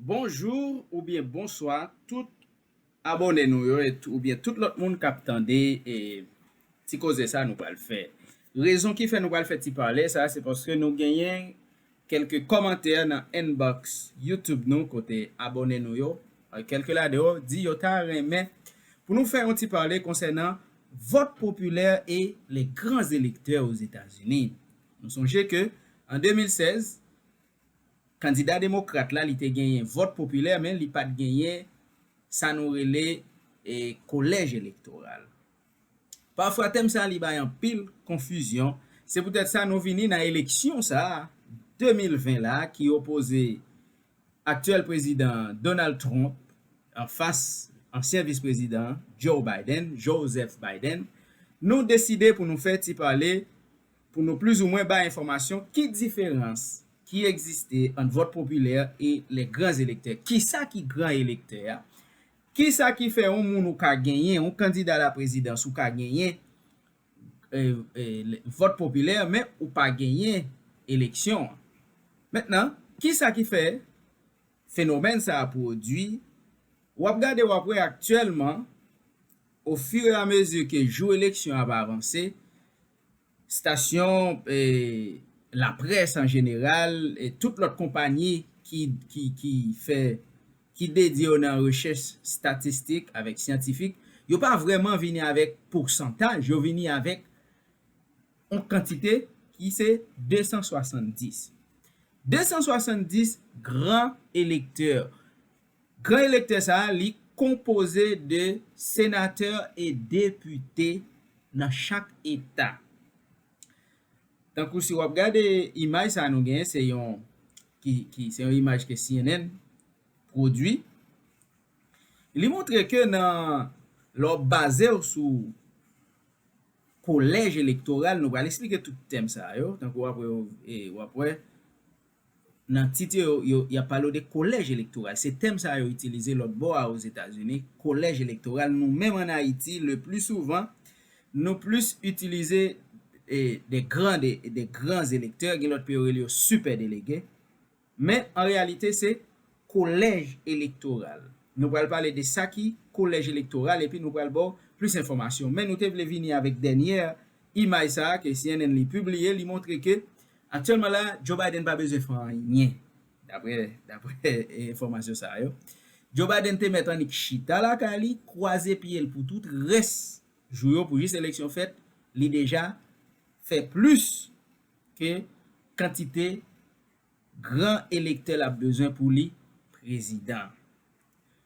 Bonjour ou byen bonswa tout abòne nou yo ou byen tout lòt moun kap tande ti koze sa nou pral fè. Rezon ki fè nou pral fè ti pale sa se paske nou genyen kelke kòmantè nan inbox youtube nou kote abòne nou yo kelke ladan yo di yo ta renmen pou nou fè yon ti pale konsènan vòt popilè e les grands electeurs aux Etats-Unis. Nou sonje ke an 2016 Kandida demokrat la li te genyen vòt popilè men li pat genyen sa nou rele kolèj elektoral. Pafwa tèm sa li bay anpil konfizyon, se poutèt sa nou vini nan eleksyon sa 2020 la ki opoze aktyèl prezidan Donald Trump anfas ansyen vis prezidan an Joe Biden, Joseph Biden, nou deside pou nou fè ti pale. Pou nou plizoumwen bay enfòmasyon ki diferans ki egziste ant vòt popilè e les grands électeurs. Kisa ki gran elektè a? Kisa ki fè yon moun ou ka genyen, yon kandida laprezidans ou ka genyen vòt popilè men ou pa genyen eleksyon an? Mentnan, kisa ki fè fenomèn sa a pwodui? W ap gade w ap wè aktyèlman ofiramezi ke jou eleksyon ap avanse, stasyon laprès an jeneral, tout lòt konpanyi ki fè, ki dedye yo nan rechèch statistik avèk syantifik, yo pa vrèman vini avèk pousantaj, yo vini avèk yon kantite ki se 270. 270 gran elektè, Gran elektè sa a li konpoze de senatè e depite nan chak eta. Tankou si wap gade imaj sa a nou genyen se yon ki ki se yon imaj ke cnn pwodui. Li montre ke nan lè w baze w sou kolèj elektoral nou pral esplike tout tèm sa yo tankou wap wè yo e wap wè Nan tit yo yo, y ap pale w de kolèj elektoral. Se tèm sa a yo itilize lòt bò a Ozetazini, kolèj elektoral. Nou menm ann Ayiti, lepli souvan, nou plis itilize de gran de de gran elektè. Gen lòt peyi yo rele yo sipè delege. Men, an reyalite, se Kolèj elektoral. Nou pral pale de sa ki Kolèj elektoral epi nou pral ba w plis enfòmasyon. Men nou te vle vini avèk dènyè imaj sa a ke cnn li pibliye, li montre ke aktyèlman la Joe Biden pa bezwen fè anyen, daprè daprè enfòmasyon sa yo. Joe Biden te mèt annik chita lakay li, kwaze pye l pou tout rès jou yo pou jis eleksyon fèt, li deja fè plis ke kantite. Gran elektè lap bezwen pou li prezidan.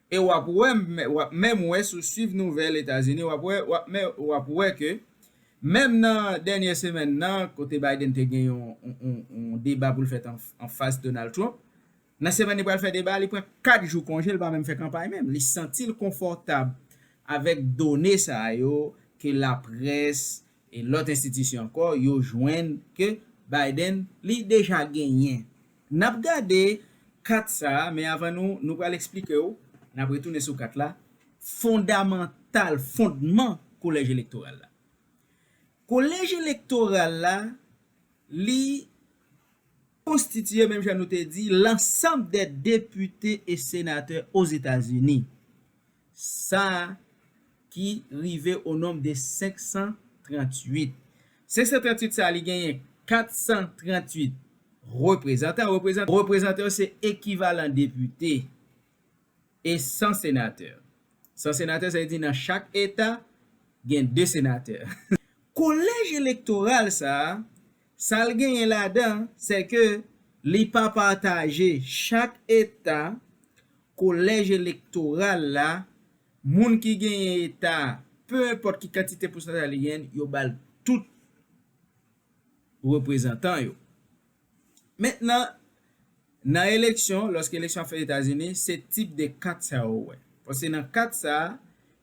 E wap wè wap menm wè si w swiv nouvèl Etazini wap wè wap menm wap wè ke menm nan dènyè semèn nan kote Biden te gen yon yon deba pou l fèt anfas Donald Trump nan semèn li pral fè deba a li pran 4 jou konje li pa menm fè kanpay menm li santi l konfòtab avèk done sa yo ke laprès E lòt enstitisyon ankò yo jwenn ke Biden li deja genyen. N ap gade kat sa a, men avan nou nou pral eksplike w, n ap retounen sou kat la, fondamantal, fondman kolèj elektoral la. Kolèj elektoral la li konstitiye menm jan nou te di lansanm dè depite e senatè Ozetazini. sa a ki rive o nonb de 538. 538 sa a li genyen 438 reprezantan, reprezantan yo se ekivalan depite e 100 senatè. 100 senatè sa vle di nan chak eta gen 2 senatè. Kolèj elektoral sa a, sa l genyen ladan sèke li pa pataje chak eta Kolèj elektoral la, moun ki genyen eta a, pe enpòt ki kantite pousantaj li genyen, yo ba l tout reprezantan yo. Mentnan, nan eleksyon, lòske eleksyon ap fèt Etazini, se tip de kat sa yo ou wè. Paske nan kat sa a,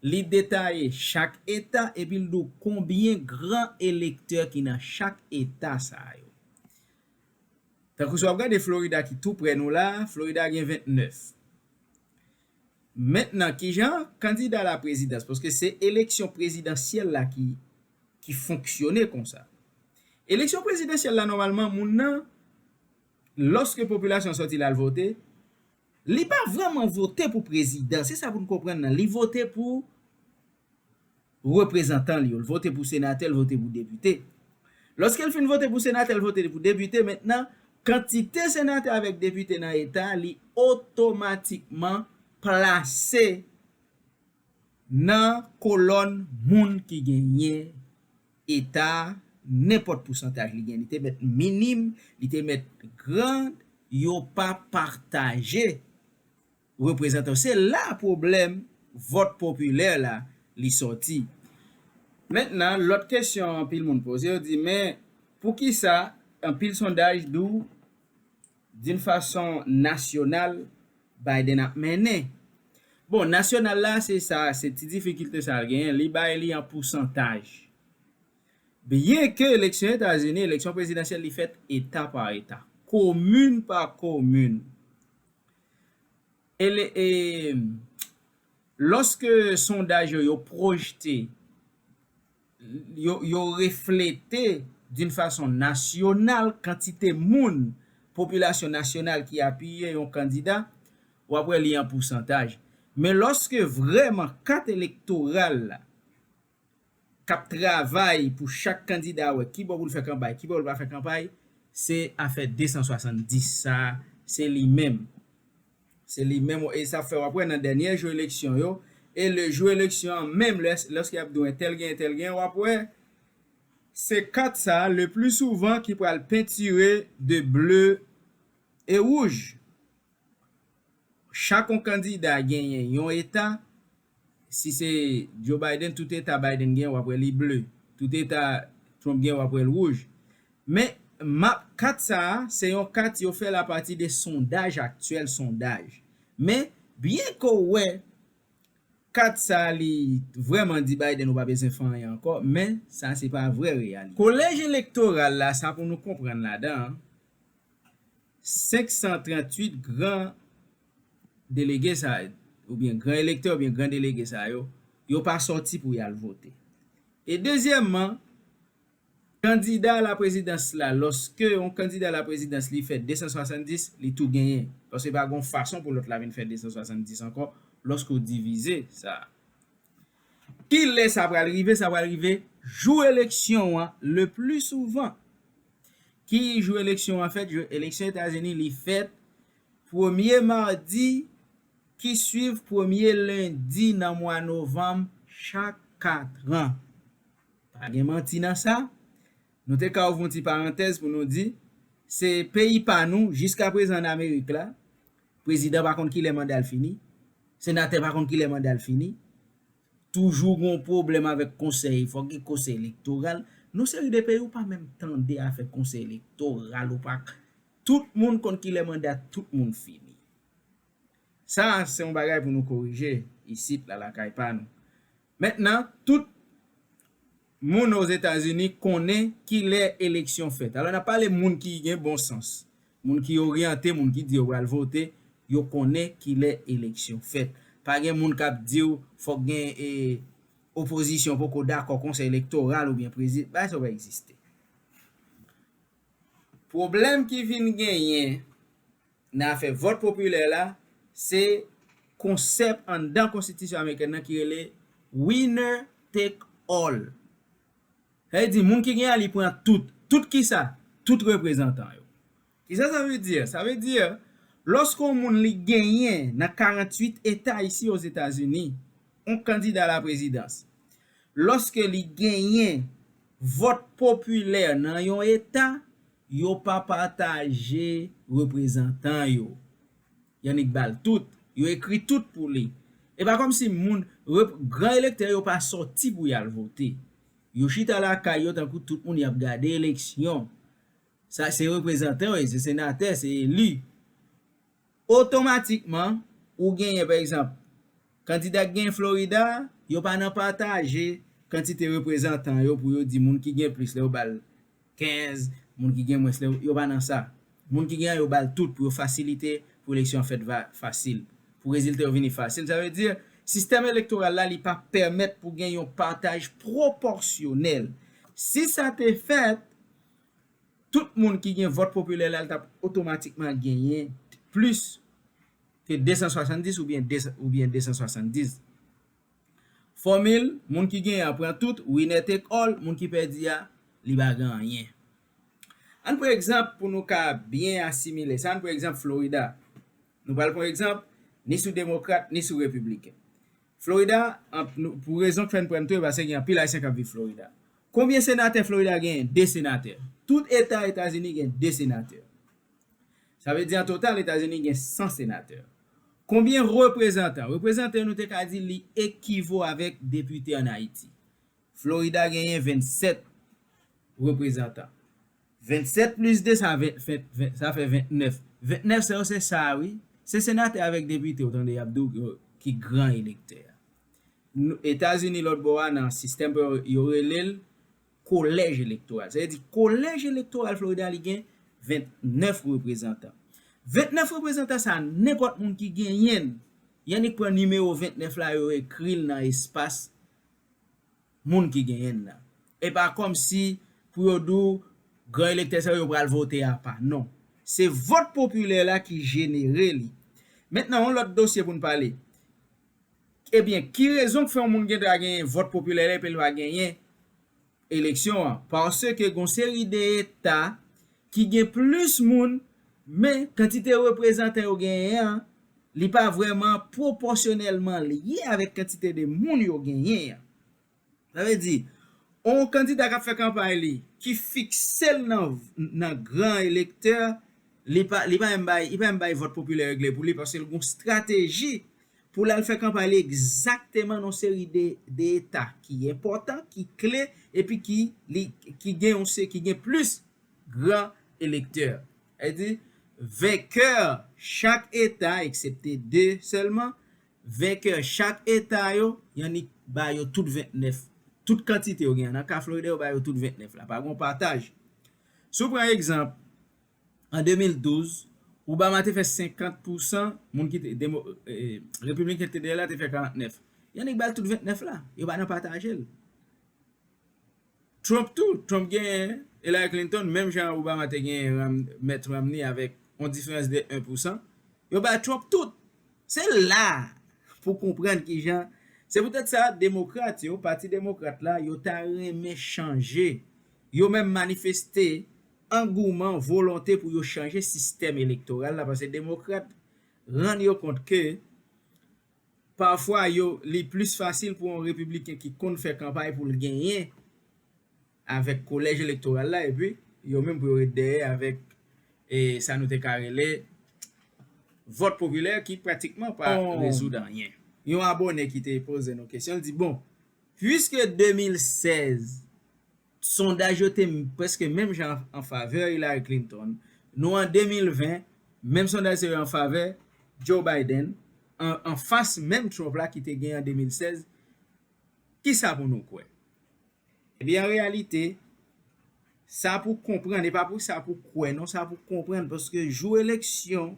li detaye chak eta epi l di w konbyen gran elektè ki nan chak eta sa yo. Tankou si w ap gade Florida ki tou prè nou la, Florida gen 29. Mentnan ki jan kandida la prezidans, paske se eleksyon prezidansyèl la ki ki fonksyone konsa. Eleksyon prezidansyèl la nòmalman moun nan lòske popilasyon sòti l al vote, li pa vrèman vote pou prezidan, se sa pou n konprann nan, li vote pou reprezantan l yo. L vote pou senatè, l vote pou depite. Lòske l fin vote pou senatè, l vote pou depite, mentnan, kantite senatè avèk depite nan eta a, li otomatikman plase nan kolòn moun ki genyen eta a, nenpòt pousantaj li gen. Li te mèt minim, li te mèt gran, yo pa pataje. reprezantan yo se la pwoblèm vòt popilè la li sòti mentnan lòt kesyon anpil moun poze yo di men poukisa anpil sondaj di w din fason nasyonal Biden ap mennen bon nasyonal la se sa se ti difikilte sa l genyen li bay li an pousantaj byen ke eleksyon etazini eleksyon prezidansyèl li fèt eta pa eta komin pa komin Lòske sondaj yo yo pwojte, yo reflete doun fason nasyonal kantite moun, popilasyon nasyonal ki apiye yon kandida, w ap wè li an pousantaj. Men lòske vrèman kat elektoral la k ap travay pou chak kandida wè kibò pou l fè kanpay, kibò pou l pa fè kanpay, se afè 270 sa a, se li menm. Se li menm e sa fè w ap wè nan dènyè jou eleksyon yo e le jou eleksyon an menm lèske y ap di w entèl genyen entèl genyen w ap wè se kat sa a le pli souvan ki pral pentire de ble e wouj. Chak yon kandida genyen yon eta. Si se Joe Biden tout eta Biden gen wap wè li ble, tout eta Trump gen wap wèl wouj. Men map kat sa a se yon kat yo fèl apati de sondaj aktyèl sondaj. Men byen ke w wè kat sa a li vrèman di Biden ou pa bezwen fè anyen ankò men sa se pa vrè reyalite. Kolèj elektoral la sa pou nou konprann ladan an 538 gran delege sa yo, oubyen gran elektè oubyen gran delege sa yo, yo pa sòti pou y al vote. E dezyèmman, kandida alaprezidans la, lòske yon kandida alaprezidans li fè 270, li tou genyen. Paske pa gen yon fason pou lòt la vin fè 270 ankò, lòske ou divize sa a. Kilè sa pral rive? Sa pral rive jou eleksyon an, le pli souvan. Ki jou eleksyon an fèt? Jou eleksyon Etazini li fèt Premye madi ki swiv premye lendi nan mwa novanm chak katran. Pa gen manti nan sa. Nou te ka ouvr yon ti parantèz pou nou di, se peyi pa nou, jiskaprezan ann Amerik la, prezidan pa konn ki lè manda l fini, senatè pa konn ki lè manda l fini, Toujou gon pwoblèm avèk konsèy fòk gen konsèy elektoral non seri de peyi ou pa menm tande afè konsèy elektoral ou pa tout moun konn kilè manda tout moun fini sa se yon bagay pou nou korije isit la lakay pa nou mentnan tout Moun Ozetazini konnen ki lè eleksyon fèt. Alò n ap pale moun ki gen bon sans, moun ki oryante, moun ki di yo pral vote, yo konnen ki lè eleksyon fèt. Pa gen moun k ap di w fòk gen e opozisyon poko dakò konsèy elektoral oubyen prezidan, bagay sa yo pa egziste. Pwoblèm ki vin genyen Nan afè vòt popilè la, se konsèp anndan konstitisyon amerikèn nan ki rele winner take all. Sa vle di moun ki gen a li pran tout. Tout kisa? Tout reprezantan yo. Kisa sa vle di? Sa vle di lòske yon moun li genyen nan 48 eta isi ozetazini yon kandida a la prezidans, lòske li genyen Vòt popilè nan yon eta, yo pa pataje reprezantan yo. Yannick bal tout, yo ekri tout pou li. E pa kòmsi moun, rep, gran elektè yo pa sòti pou yal vote. Yo chita lakay yo tankou tout moun yap gade eleksyon. Sa se reprezantan yo ye, se senatè, se eli. Otomatikman, ou genyen, pa egzanp, kandida ki genyen Florida a, yo pa nan pataje kantite reprezantan yo pou yo di moun ki gen plis la yo ba l 15, moun ki gen mwens la yo pa nan sa. Moun ki gen an yo ba l tout pou yo fasilite pou eleksyon an fèt va fasil, pou rezilta yo vini fasil. Sa vle di, sistèm elektoral la li pa pèmèt pou gen yon pataj pwopòsyonèl. Si sa te fèt, Tout moun ki gen vòt popilè la li t ap otomatikman genyen plis ke 270 oubyen 270. Fòmil, moun ki genyen an pran tout, winner take all, moun ki pèdi a, li pa gen anyen. Ann pran egzanp pou nou ka byen asimile sa, ann pran egzanp Florida. Nou pral pran egzanp ni sou demokrat ni sou repibliken. Florida, pou rezon k fè n pran n tou e pase gen anpil ayisyen k ap viv Florida. Konbyen senatè Florida genyen? 2 senatè. Tout eta Etazini gen 2 senatè. Sa vle di an total Etazini gen 100 senatè. Konbyen reprezantan? Reprezantan nou te ka di li ekivo avèk depite an Ayiti. Florida genyen 27 reprezantan. 27 plis 2 sa fè 29. 29 sa yo se sa a wi. Se senatè avèk depite ou tande y ap di w ki gran elektè a. Etazini lòt bò a nan sistèm pa yo, yo rele l kolèj elektoral. Sa vle di kolèj elektoral Florida li gen 29 reprezantan. 29 reprezantan sa a nenpòt moun ki genyen l, y annik pran nimewo 29 la yo ekri l nan espas moun ki genyen l la. E pa kòmsi pou yo di w gran elektè sa yo yo pral vote apa. Non. Se vòt popilè la ki jenere li. Mentnan yon lòt dosye pou n pale. Ebyen, ki rezon k fè yon moun gen dwa genyen vòt popilè lè peyi l pa genyen eleksyon an? Paske gen yon seri de eta ki gen plis moun men kantite reprezantan yo genyen an li pa vrèman pwopòsyonèlman lye avèk kantite de moun yo genyen an. Sa vle di, yon kandida k ap fè kanpay li, ki fikse l nan gran elektè, li pa menm bay vòt popilè regle pou li paske l gen yon estrateji pou l al fè kanpay li egzakteman nan yon seri de eta ki enpòtan, ki kle epi ki gen plis gran elektè. Sa vle di, venkè chak eta, eksepte 2 sèlman, Venkè chak eta yo, yannik ba yo tout 29. Tout kantite yo gen an. Nan ka Florida yo ba yo tout 29 la. Pa gen yon pataj. Si w pran egzanp, an 2012, Obama te fè 50 pousan moun ki te, demo, Repibliken ki te dèyè l la te fè 49. Yannik ba l tout 29 la. Yo pa nan pataje l. Trump tou, Trump genyen Hillary Clinton menm jan Obama te genyen Mitt Romney avèk yon diferans de 1 pousan, yo bay Trump tout! Se la a pou w konprann ki jan Se poutèt sa, Demokrat yo, Pati Demokrat la, yo ta renmen chanje, yo menm manifeste angouman, volonte pou yo chanje sistèm elektoral la, paske Demokrat rann yo kont ke, Pafwa yo li plis fasil pou yon repibliken ki konn fè kanpay pou l genyen avèk kolèj elektoral la epi yo menm pou yo ret dèyè avèk sa nou te ka rele vòt popilè ki pratikman pa rezoud anyen. Yon abone ki te poze nou kesyon li di bon pwiske 2016 Sondaj yo te prèske menm jan an favè Hillary Clinton. Nou an 2020, menm sondaj sa yo an favè Joe Biden, an fas menm Trump la ki te gen an 2016. Ki sa pou nou kwè? Ebyen, an reyalite, sa pou konprann, e pa pou sa pou kwè non, sa pou konprann, paske jou eleksyon,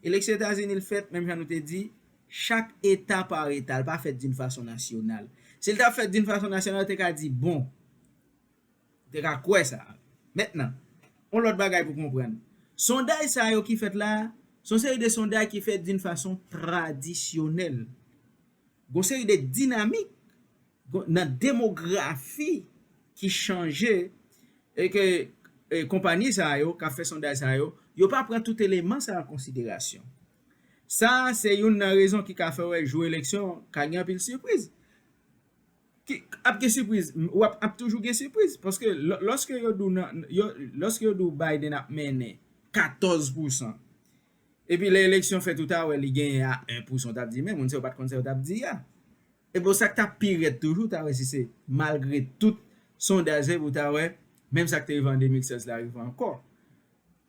eleksyon Etazini l fèt, menm jan nou te di, Chak eta par eta, l pa fèt d'une façon nationale. Si l ta fèt d'une façon nationale, yo te ka di bon. Yo te ka kwè sa. Mentnan, yon lòt bagay pou konprann. Sondaj sa yo ki fèt la a, se yon seri de sondaj ki fèt d'une façon tradisyonèl. Gon seri de dinamik nan demografi ki chanje e ke konpani sa yo k ap fè sondaj sa yo, yo pa pran tout eleman sa yo an konsiderasyon. Sa se youn nan rezon ki ka fè wè jou eleksyon ka gen anpil sipriz. Ki ap gen sipriz? Wap ap toujou gen sipriz paske loske yo di w nan loske yo di w Biden ap mennen 14 pousan epi lè eleksyon fèt ou ta wè li genyen a 1 pousan ou tap di men moun sa yo pat konn sa yo tap di a. Ebyen sak ta pi rèd toujou ou ta wè si se malgre tout sondaj pou ta wè menm sak te rive an 2016 la rive ankò.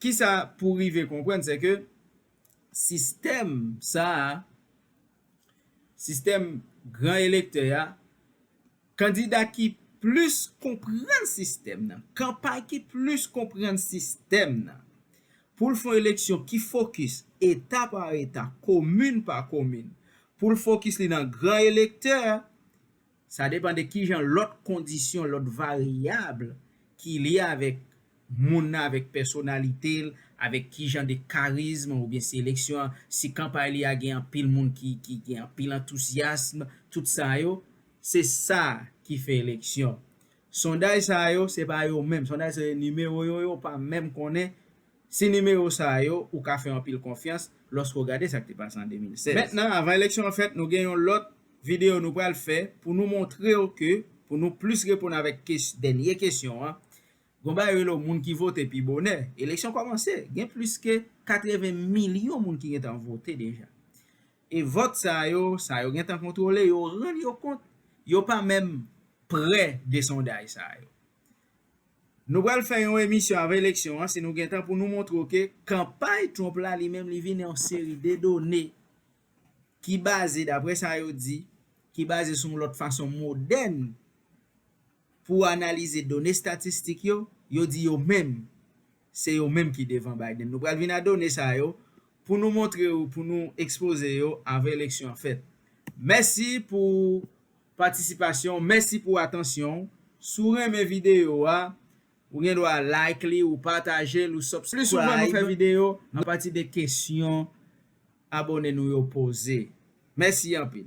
Kisa pou rive konprann se ke sistèm sa a, sistèm gran elektè a, kandida ki plis konprann sistèm nan, kanpay ki plis konprann sistèm nan, pou l fon eleksyon ki fokis eta pa eta, komin pa komin, pou l fokis li nan gran elektè, Sa depan de kijan lòt kondisyon, lòt varyab ki lye avèk moun nan, avèk pèsonalite l, avèk kijan de karizm oubyen si eleksyon an, si kanpay li a gen anpil moun ki gen anpil antouzyasm, tout sa yo, se sa ki fè eleksyon. Sondaj sa yo, se pa yo menm, sondaj sa yo nimewo yo, yo pa menm konnen Se nimewo sa a yo ou ka fè anpil konfyans lòske w gade sa k te pase an 2016. Mentnan, avan eleksyon an fèt, nou gen yon lòt videyo nou pral fè pou nou montre w ke pou nou plis reponn avèk kes dènye kesyon an, gon bagay rele w moun ki vote pi bonè. Eleksyon kòmanse, gen plis ke 80 milyon moun ki gen tan vote deja. E vòt sa a yo, sa yo gen tan kontwole, yo rann yo kont yo pa menm prè de sondaj sa a yo. Nou pral fè yon emisyon avan eleksyon an si nou gen tan pou nou montre w ke kanpay Trump la li menm li vini ak yon seri de done ki baze dapre sa yo di, ki baze sou yon lòt fason modèn pou analize done statistik yo, yo di yo menm se yo menm ki devan Biden. Nou pral vini ak done sa yo pou nou montre w, pou nou ekspoze yo avan eleksyon an fèt. Mèsi pou. patisipasyon w mèsi pou atansyon w si w renmen videyo a ou gen dwa like li ou pataje l ou subscribe plis souvan nou fè videyo apati de kesyon abone nou yo poze mèsi anpil.